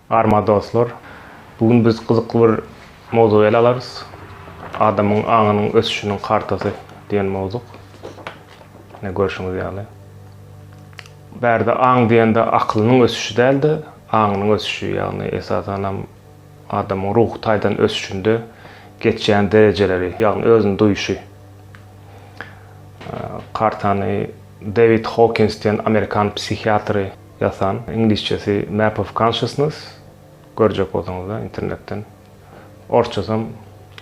Arma dostlar, bu gün biz gyzykly bir mowzugy ele alarys. Adamyň aňynyň ösüşiniň kartasy diýen mowzuk. Ne görşüňiz ýaly. Bärde aň diýende akylynyň ösüşi däl-de, aňynyň ösüşi, ýagny esasanam Adamyň ruhy taýdan ösüşinde geçýän derejeleri, ýagny özüni duýuşy. Kartany Dewid Hokins diýen amerikan psihiatry ýasan, iňlisçesi Map of Consciousness, görjek bolsaňyzlar internetden, orsçasam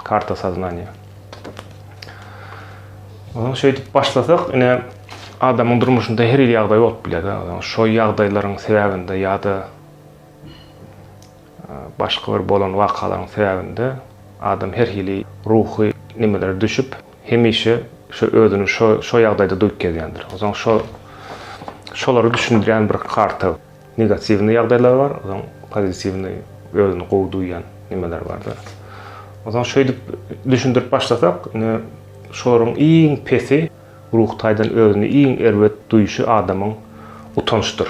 Karta soznaniýa. Onuň şeýdip başlasak, ine, adamyň durmuşynda her hili ýagdaý bolup biler, şo ýagdaýlaryň sebäbinde ýa-da Başga bir bolan wakalaryň sebäbinde adam her hili ruhy nimelere düşüp, hemişe şo özüni şo şo ýagdaýda duýup gezýändir. Onsoň şo şolary düşündirýän bir karta negatiwnyý ýagdaýlar bar, onsoň pozitiwnyý özüni gowy duýýan nimeler bardyr. Onsoň şeýdip düşündirip başlasak, indi şolaryň iň pesi, Ruhy taýdan özüni iň erbet duýuşy adamyň utançdyr.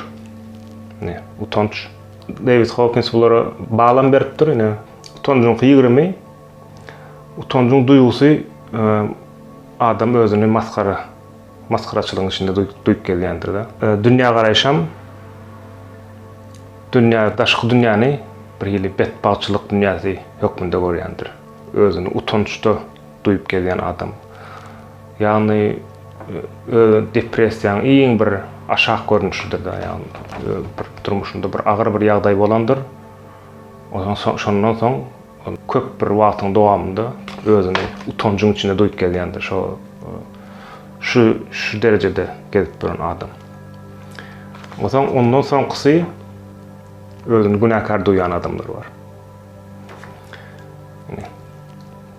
Ine, utanç. Dewid Hokins bulara balam beripdir, ine, utanjyňky ýigrimi, utanjyň duýgusy adam özüni masgara, masgaraçylygyň içinde duýup gelýändir-de. Dünýägaraýşam, dünýä, daşky dünýäni bir hili betbagtçylyk dünýäsi hökmünde görýändir. Özüni utançda. Duýup gezýän adam. Ýagny öz depressiýaň iň bir aşak görnüşidir-de, ýagny bir durmuşynda bir agyr bir ýagdaý bolandyr. Ondan soň şondan soň köp bir wagtyň dowamynda özüni utanjyň içinde duýup gezýändir. Şo şu şu derejede gezip duran adam. Onsoň ondan soňkusy özüni günäkär duýýan adamlar bar.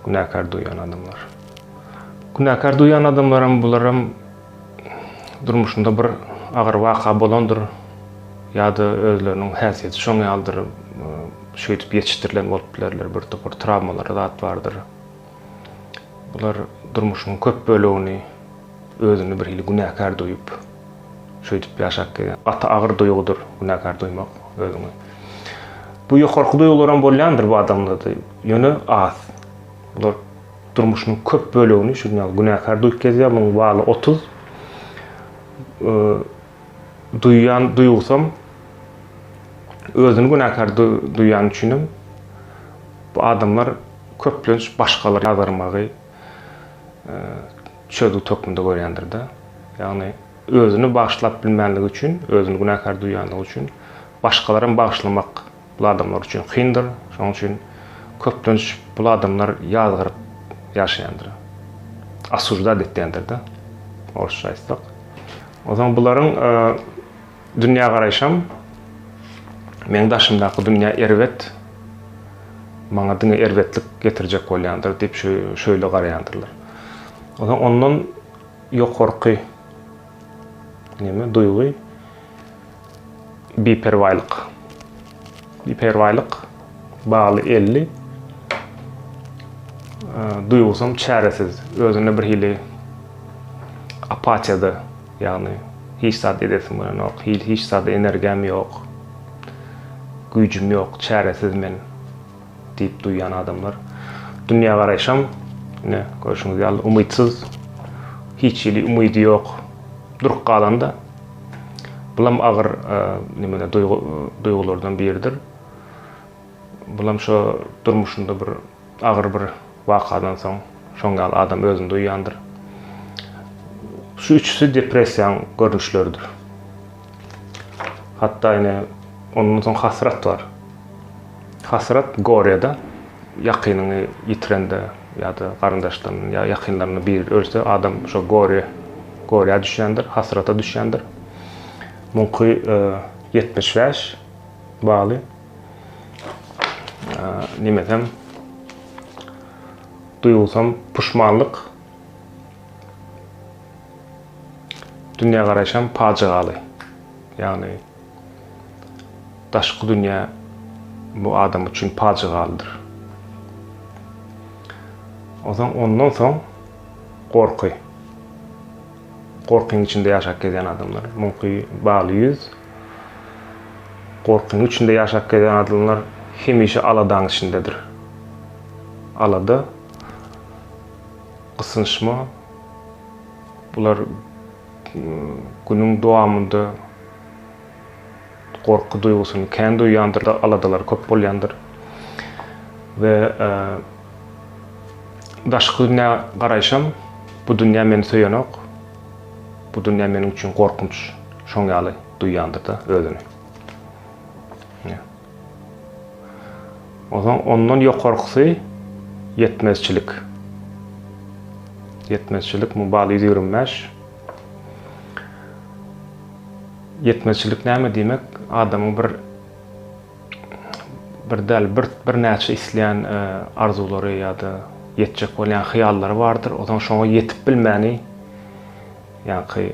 Günäkär duýan adamlar. Günäkär duýan adamlaram bularam durmuşynda bir agyr waka bolandyr ýa-da özleriniň häsiýeti şoň ýalydyr, şeýdip ýetişdirilen bolup bilerler, bir topar trawmalary zat bardyr. Bular durmuşynyň köp bölegini Özüni bir hili günäkär duýup, şeýdip ýaşap gelýär. Gaty agyr duýgudyr günäkär duýmak özüňi. Bu ýokarky duýgularam bolýandyr bu adamlarda, ýöne az. Bular durmuşynyň köp bölegini şunuň ýaly günäkär duýup gezýär, munuň baly otuz. Duýýan duýgusam özüni günäkär duýýany üçinem bu adamlar köplenç başgalara ýazgarmagy, çözgüt hökmünde görýändir-de. Ýagny, özüni bagyşlap bilmänligi üçin, özüni günäkär duýýanlygy üçin, başgalary hem bagyşlamak bul adamlar üçin kyndyr. Şonuň üçin köplenç bul adamlar ýazgaryp ýaşaýandyr. Osujdat etýändir-de, orsça aýtsak. Onsoň bularyň Dünýägaraýşym, Meň daşymdaky dünýä erbet, maňa diňe erbetlik getirjek bolýandyr diýip şeýle garaýandyrlar. Onsoň ondan ýokarky neme duýgy biperwaýlyk. Biperwaýlyk bagly elli duýgusam çäresiz, özüne birhili apatiýada Ýagny hiç zat edesim gelenok, hil hiç zada energiýam ýok, güýjüm ýok, çäresiz men diýip duýýan adamlar. Dünýägaraýşam ine görşüňiz ýaly umytsyz, hiç hili umydy ýok, durup galanda. Bulam agyr nimeler duýgy duýgulardan biridir. Bulam şo durmuşynda bir agyr bir wakadan soň şoň ýaly adam özüni duýýandyr. Şu üçüsi depressiýaň görnüşleridir. Hatda ine ondan soň hasrat bar. Hasrat gorýada ýakynyňy ýitirende ýa-da garyndaşlaryny ýa ýakynlaryny biri ölse adam şo gorýa gorýa düşýändir, hasrata düşýändir. Muňky 75 e, baly. Nemesem duýgusam puşmanlyk. Dünýä garaýşam pajygaly. Ýagny daşky dünýä bu adam üçin pajygalydyr. Ondan ondan soň gorky. Gorkyň içinde ýaşap gezýän adamlar. Muňky bagly ýüz. Gorkyň içinde ýaşap gelen adamlar hemişe aladaň içindedir. Alada, gysynçma, bular günüň dowamynda gorky duýgusyny kän duýýandyr, aladalary köp bolýandyr. We daşky dünýä garaýşam, bu dünýä meni söýenok. Bu dünýä meniň üçin gorkunç şoň ýaly duýýandyr-da özüni. Ine. Onsoň ondan ýokarkysy ýetmezçilik. Ýetmezçilik Mubal 125. Ýetmezçilik näme diýmek? Adamyň bir bir däl bir birnäçe isleýän arzuwlary ýa-da ýetjek bolýan hyýallary bardyr. Ozan şoňa ýetip bilmäni ýaňky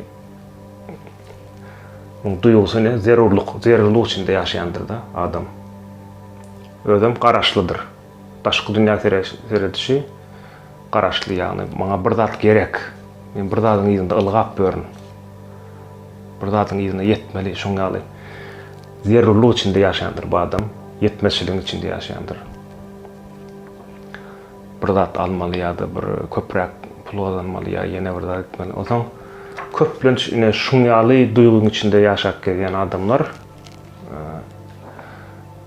muň duýgusy ne zerurlyk, zerurlyk içinde ýaşaýandyr-da adam. Özem garaşlydyr. Daşky dünýä seredişi garaşly ýagny maňa bir zat gerek men bir zadyň yzynda ylgap ýörün bir zadyň yzyna ýetmeli şoň ýaly zerurlyk içinde ýaşaýandyr bu adam ýetmezçiligiň içinde ýaşaýandyr bir zat almaly ýa-da bir köpräk pul gazanmaly ýa ýene bir zat etmeli onsoň köplenç ine şuň ýaly duýgyň içinde ýaşap gezýän adamlar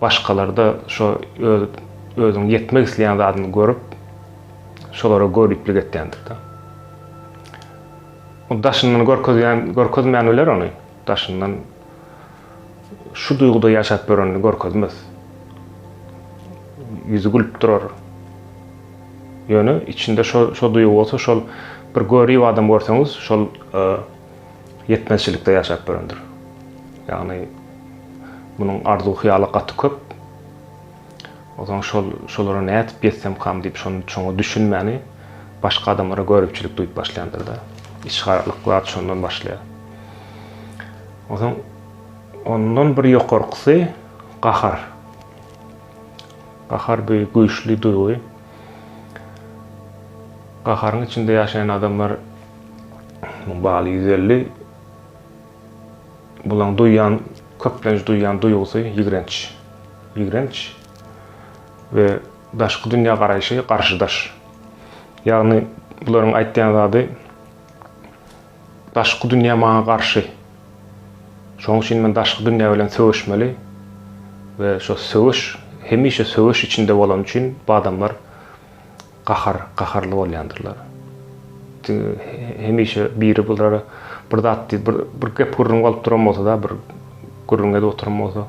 Başgalarda şo öz özüň ýetmek isleýän zadyny görüp, şolara göriplik etýändik-de. Ol daşyndan görkezýän, görkezmän biler ony. Daşyndan şu duýguda ýaşap ýörenini görkezmez. Ýüzi gülüp durar. Ýöne içinde şo şo duýgy bolsa şol bir görip adam görseňiz şol ýetmezçilikde ýaşap ýörendir. Ýagny munuň arzuw-hyýaly gaty köp. Onsoň şol şolara nädip ýetsemkam diýip şony şoňa düşünmäni başga adamlara göripçilik duýup başlaýandyr-da. Içgarlyk zat şondan başlaýar. Onsoň ondan bir ýokarkysy gahar. Gahar bu güýçli duýgy. Gaharyň içinde ýaşaýan adamlar Bu baly ýüz elli. Bulaň duýan, köplenç duýan duýgusy ýigrenç. Ýigrenç we daşky dünýä garaýşy garşydaş. Ýagny bularyň aýtýan zady daşky dünýä maňa garşy. Şonuň üçin men daşky dünýä bilen söweşmeli we şo söweş hemişe söweş içinde bolan üçin bu adamlar Gahar, gaharly bolýandyrlar. Çünki hemişe biri bulara bir zat diýip, bir, bir gep-gürrüň bolup duran bolsa-da, bir gürrüň edip oturan bolsa,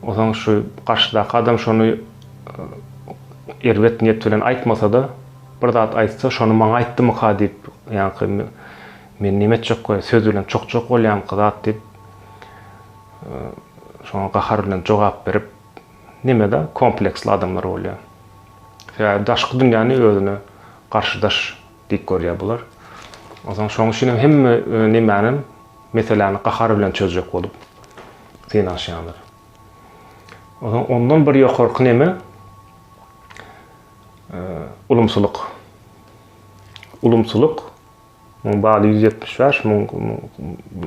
onsoň şu garşydaky adam şony erbet niýet bilen aýtmasa-da, bir zat aýtsa, şony maňa aýtdymyka diýip, ýaňky men näme etjekka, söz bilen çokjak bolýamyka zat diýip, şoňa gahar bilen jogap berip, Nemede kompleksli adamlar bolýar? Sebäbi daşky dünýäni özüne garşydaş diýip görýär bular. Onsoň şoň üçin hem hemme nemänem meseläni gahar bilen çözjek bolup synanyşýandyr. Onsoň ondan bir ýokarky neme ulumsylyk. Ulumsylyk Onuň baly ýüz ýetmiş bäş müň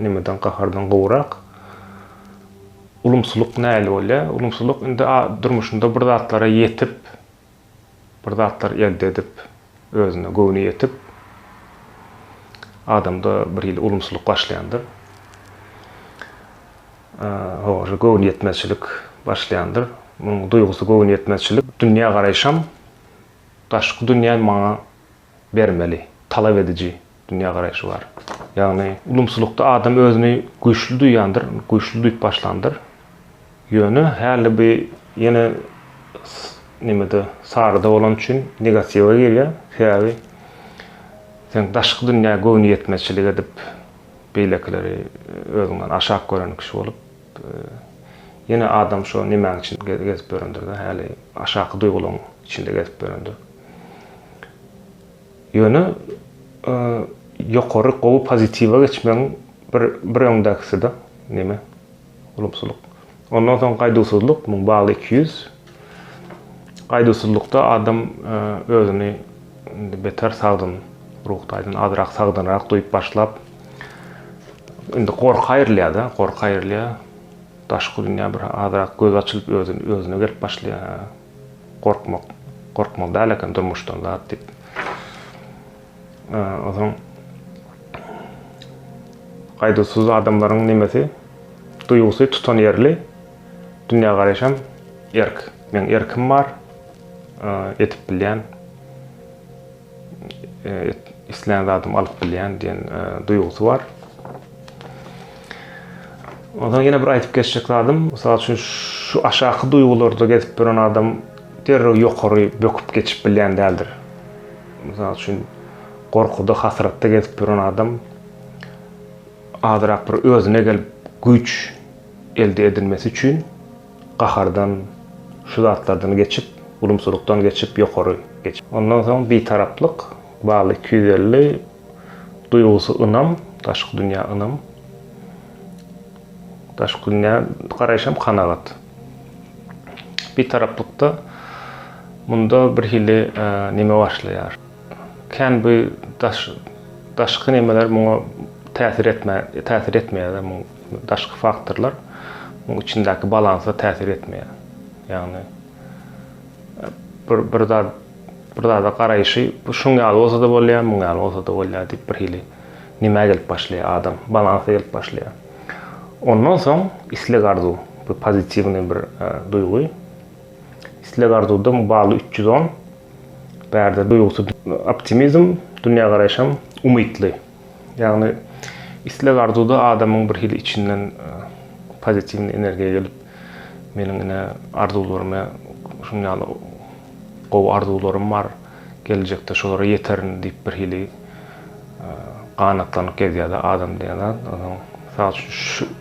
nemeden, gahardan gowurak. Ulumsylyk nähili bolýar? Ulumsylyk indi durmuşynda bir zatlara ýetip, bir zatlar elde edip, özüne göwni ýetip, adamda bir hili ulumsylyk başlaýandyr. Howa, göwnüýetmezçilik başlaýandyr. Munuň duýgusy göwnüýetmezçilik. Dünýägaraýşam, daşky dünýä maňa bermeli, talap ediji dünýägaraýşy bar. Ýagny ulumsylykda adam özüni güýçli duýýandyr, güýçli duýup başlandyr. Ýöne häli bu ýene nemede, saryda bolany üçin negatiwa girýär. Sebäbi sen daşky dünýä göwnüýetmezçilik edip, beýlekileri özüňden aşak gören kişi bolup, Ýene adam şo nemäň içinde gezip ýörendir-dä, häli aşaky duýgularyň içinde gezip ýörendir. Ýöne ýokary gowy pozitiwa geçmegiň bir bir öňdäkisi-dä neme, ulumsylyk. Ondan soň gaýduwsyzlyk, muň bagly iki ýüz. Gaýduwsyzlykda adam özüni indi beter sagdyn, ruhy taýdan azrak sagdynrak duýup başlap, indi gorka aýrylýar-da, gorka aýrylýar. Daşky dünýä bir azrak gözi açylyp, özüne gelip başlaýar. Hä, gorkmak, gorkmaly däl eken durmuşdan zat diýip. Onsoň gaýduwsyz adamlaryň nemesi, duýgusy tutanýerli. Dünýägaraýşam erk. Meň erkim bar. Edip bilýän. Islän zadymy alyp bilýän diýen duýgusy bar. Onsoň ýene bir aýdyp geçjek zadym, mysal üçin şu aşaky duýgularda gezip ýören adam derrew ýokary böküp geçip bilýän däldir. Mysal üçin gorkuda, hasratda gezip ýören adam azyrak bir özüne gelip güýç elde edilmesi üçin gahardan, şu zatlardan geçip, ulumsylykdan geçip, ýokary geçip. Ondan soň bitaraplyk, bal iki ýüz elli, duýgusy ynam, daşky dünýä ynam, daşky dünýä garaýyş hem kanagat. Bitaraplykda munda bir hili neme başlaýar. Kän bu daş daşky nemeler muňa täsir etmä täsir etmeýär-de muň. Daşky faktorlar muň içindäki balansa täsir etmeýär. Ýagny bir bir zat bir zada garaýşy bu şuň ýaly bolsa-da bolýar, muň ýaly bolsa-da bolýar diýip bir hili nimä gelip başlaýar adam, balansa gelip başlaýar. Ondan soň isleg-arzuw, bir pozitiwnyý bir duýgy. Isleg-arzuwda muň bally üç ýüz on. Bärde duýgusy optimizm, dünýägaraýşam umytly. Ýagny isleg arzuwda adamyň bir hili içinden pozitiwny energiýa gelip meniň ine arzuwlarym şunuň ýaly gowy arzuwlarym bar geljekde şolara ýeterin diýip bir hili ganatlanyp gezýärde adam diýen zat mysal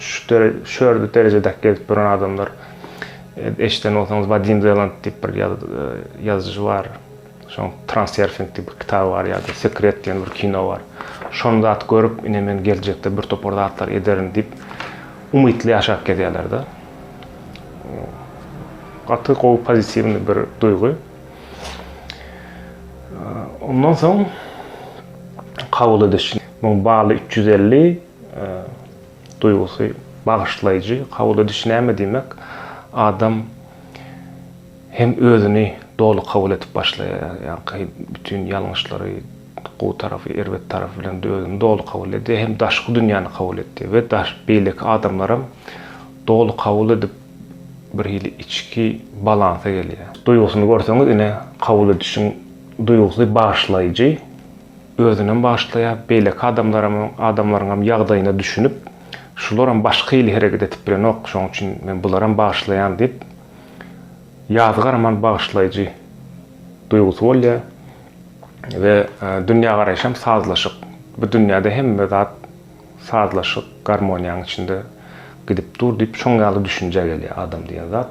üçin şördi derejedäki gezip ýören adamlar eşden bolsaňyz wadim zeland diýip bir ýazyjy bar. Şoň Transerfing diýip bir kitaby bar ýa-da Sekret diýen bir kino bar. Şony zat görüp, ine men geljekde bir topar zatlar ederin diýip umytly ýaşap gezýärler-de. Gaty gowy pozitiwny bir duýgy. Ondan soň kabul ediş. Muň baly üç ýüz elli duýgusy bagyşlaýjy. Kabul ediş näme diýmek? Adam Hem özüni doly kabul edip başlaýar, ýaňky bütin ýalňyşlary, gowy tarapy, erbet tarapy bilen özüni doly kabul edýär, hem daşky dünýäni kabul edýär we beýleki adamlaram doly kabul edip bir hili içki balansa gelýär. Duýgusyny görseňiz ine kabul edişiň duýgusy bagyşlaýjy, özünem bagyşlaýar, beýleki adamlaram, adamlaryňam ýagdaýyna düşünip, şularam başga hili hereket edip bilenok, şoň üçin men bularam bagyşlaýan diýip, Ýazy garaman bagyşlaýjy duýgusy bolýar we dünýägaraýşy hem sazlaşyk. Bu dünýäde hemme zat sazlaşyk, garmoniýanyň içinde gidip dur diýip şoň ýaly düşünjä gelýär adam diýen zat.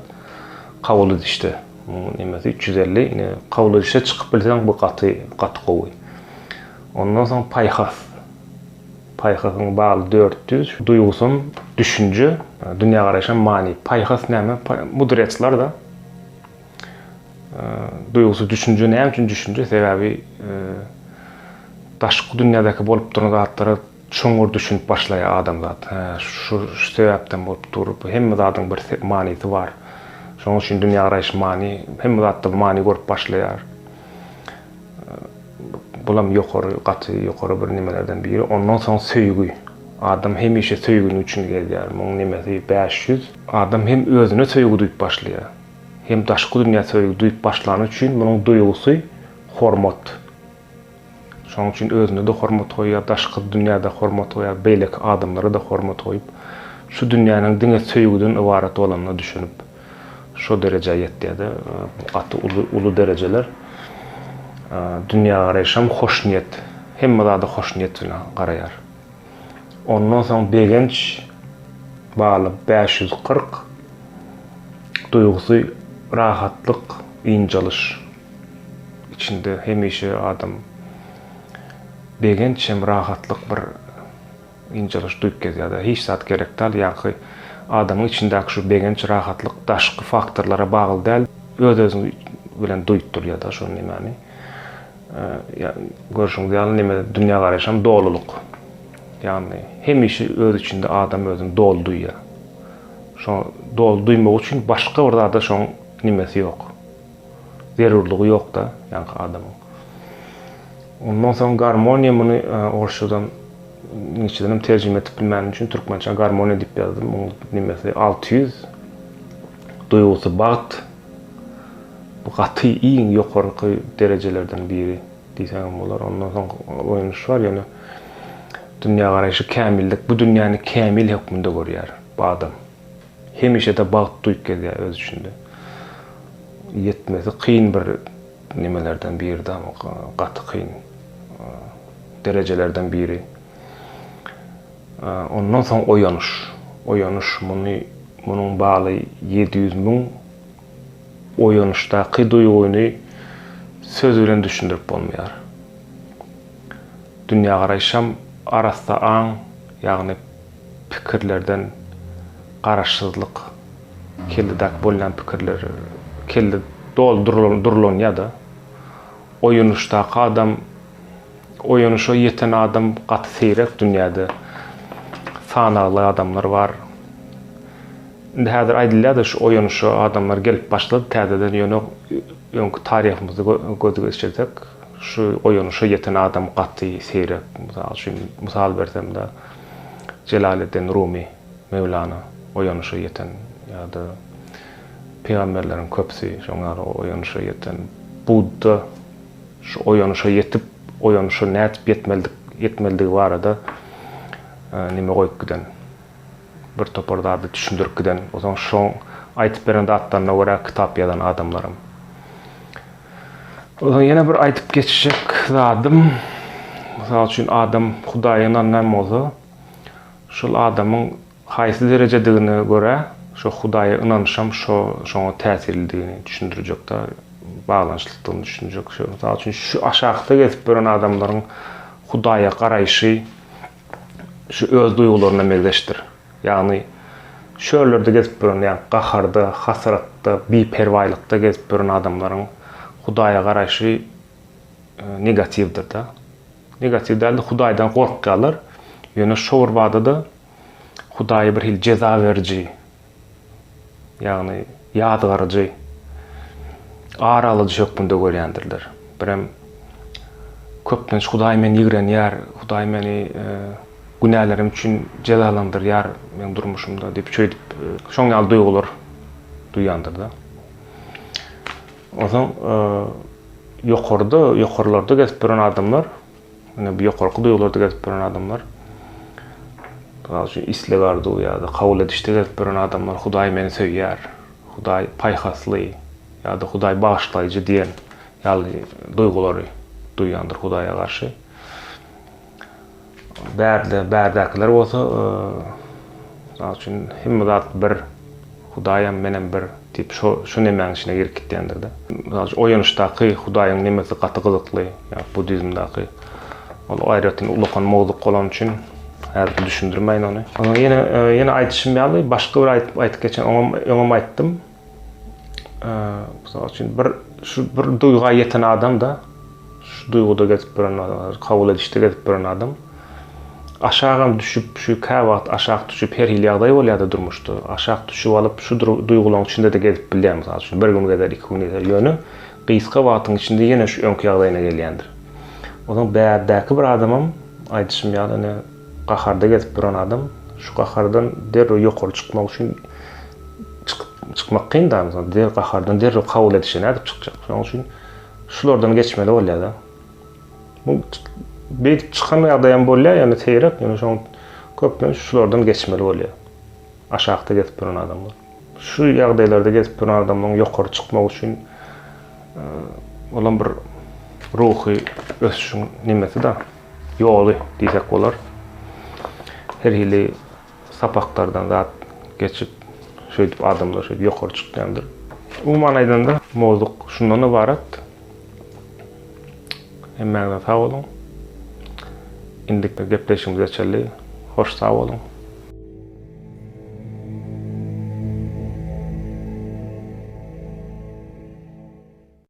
Kabul edişde munuň nemesi üç ýüz elli ine kabul edişe çykyp bilseň bu gaty gaty gowy. Ondan soň paýhas. Paýhasyň baly dört ýüz, duýgusam düşünje, dünýägaraýşam many. Paýhas näme? Mudretsler-de. Duýgusy düşünje näme üçin düşünje? Sebäbi daşky dünýädäki bolup duran zatlara çuňňur düşünip başlaýar adamzat. Hä, şu sebäpden bolup dur. Bu hemme zadyň bir manysy bar. Şonuň üçin dünýägaraýyş many, hemme zatda many görüp başlaýar. Bulam ýokary, gaty ýokary bir nemelerden biri. Ondan soň söýgi. Adam hemişe söýginiň üçin gezýär. Muň nemesi bäş ýüz. Adam hem özüne söýgi duýup başlaýar. Hem daşky dünýä söýgi duýup başlany üçin munuň duýgusy hormat. Şonuň üçin özüne-de hormat goýýar, daşky dünýä-de hormat goýýar, beýleki adamlara-da hormat goýup, şu dünýäniň diňe söýgüden ybarat bolanyna düşünip. Şo derejä ýetýärde gaty uly uly derejeler dünýä garaýşam hoşniýet hemme zada hoşniýet bilen garaýar. Ondan soň begenç baly bäş ýüz kyrk duýgusy rahatlyk ynjalyş içinde hemişe adam begenç hem rahatlyk bir Ynjalyş duýup gezýär-dä. Hiç zat gerek däl. Ýaňky adamyň içindäki şu begenç, rahatlyk daşky faktorlara bagly däl, öz-özüňi bilen duýup durýar-da şo nemäni. Ýa, görşüňiz ýaly, neme, dünýägaraýyşam dolulyk. Ýagny, hemişe öz içinde adam özüni doly duýýar. Şo doly duýmak üçin başga bir zada şoň nimesi ýok. zerurlygy ýokda ýaňky adamyň. Ondan soň garmoniýa muny orsçadan ingilisçeden hem terjime edip bilmänim üçin türkmençe garmoniýa diýip ýazdym. Muň nimesi 600 duýgusy bagt. Bu gaty iň ýokarky derejelerden biri diýseňem bolar. Ondan soň oýanyş bar ýöne dünýägaraýşy kämillik bu dünýäni kämil hökmünde görýär bu adam. Hemişe-de bagt duýup gezýär öz içinde. Ýetmesi kyn bir nemelerden biridi, gaty kyn derejelerden biri. Ondan soň oýanyş. Oýanyş muny munuň baly ýedi ýüz müň oýanyşdaky duýgyny söz bilen düşündirip bolmaýar. Dünýägaraýşam arassa aň, ýagny pikirlerden garaşsyzlyk kelledäki bolýan pikirler kelle doldurylan durlanýada oýanyşdaky adam oýanyşa ýeten adam gaty seýrek dünýäde sanagly adamlar bar indi häzir aýdylýada şu oýanyşa adamlar gelip başlady täzeden ýöne öňki taryhymyzy göz geçirsek şu oýanyşa ýeten adam gaty seýrek mysal üçin mysal bersemda. Jelaleddin Rumy, Mewlana, oýanyşa ýeten ýa-da pygamberleriň köpüsi şoň ýaly oýanyşa ýeten, Budda şu oýanyşa ýetip, oýanyşa nädip ýetmelidik, ýetmelidigi barada neme goýup giden, bir topar zady düşündirip giden, onsoň şoň aýdyp beren zatlaryna görä kitap ýazan adamlaram. Onsoň ýene bir aýdyp geçjek zadym, mysal üçin adam Hudaýa ynanmaýan bolsa, şol adamyň haýsy derejedigine görä, şo Hudaýa ynanyşam şo şoňa täsirlidigini düşündirjekde baglanyşlykdygyny düşünjek. Şo mysal üçin şu aşakda gezip ýören adamlaryň Hudaýa garaýşy şu öz duýgularyna megzeşdir. Ýagny, çöllerde gezip ýören, ýagny gaharda, hasratda, biperwaýlykda gezip ýören adamlaryň Hudaýa garaýşy negatiwdir-de. Negatiw däl-de, Hudaýdan gorkýarlar. Ýöne şo bir bada-da Hudaýy birhili jeza beriji, ýagny ýazgaryjy, ara alyjy hökmünde görýändirler. Birem köplenç Hudaý meni ýigrenýär, Hudaý meni e, günälerim üçin jezalandyrýar meniň durmuşymda diýip şeýdip e, şoň ýaly duýgular duýýandyr da. Onsoň e, ýokarda, ýokarlarda gezip duran adamlar Ine bu ýokarky duýgularda gezip ýören adamlar. Mysal üçin isleg arzuw ýa-da kabul edişde gezip ýören adamlar Hudaý meni söýýär, Hudaý paýhasly ýa-da Hudaý bagyşlaýjy diýen ýaly duýgulary duýýandyr Hudaýa garşy. Bärde bärdäkiler bolsa mysal üçin hemme zat bir Hudaýam menem bir diýip şo şu nemäň içine girip gitýändir-de. Mysal üçin oýanyşdaky Hudaýyň nemesi gaty gyzykly, ýa budizmdaky. Ol aýratyn ulakan mowzuk bolany üçin häzir düşündirmäýin ony. Onuň ýene ýene aýdyşym ýaly başga bir aýdyp aýdyp geçen oňam öňem aýtdym. Mysal üçin bir şu bir duýga ýeten adam-da. Şu duýguda gezip ýören adamlar, kabul edişde gezip ýören adam aşagam düşüp, şu käwagt aşak düşüp her hili ýagdaý bolýar-da durmuşda. Aşak düşüp alyp şu duýgularyň içinde-de gezip bilýär. Mysal üçin, bir gün gezer, iki gün gezer, ýöne gysga wagtyň içinde ýene şu öňki ýagdaýyna gelýändir. Onuň bärdäki bir adamam, aýdyşym ýaly, ine, gaharda gezip ýören adam şu gahardan derrew ýokary çykmak üçin çykyp, çykmak kyn-da, gahardan derrew kabul edişe nädip çykjak? Şonuň üçin Şulardan geçmeli bolýar-da. Bu beýdip çykan ýagdaýam bolýar, ýöne seýrek, ýöne şoň köplenç şulardan geçmeli bolýar. Aşakda gezip duran adamlar. Şu ýagdaýlarda gezip duran adamlaryň ýokary çykmagy üçin olam bir ruhy ösüşiň nimesi-da, ýoly diýsek bolar. Her hili sapaklardan zat geçip, şeýdip adamlar şeýdip ýokary çykýandyr. Umuman aýdanda, mowzuk şundan ybarat. Hemmäňize sag boluň. Indiki gepleşigimize çenli hoş sag boluň.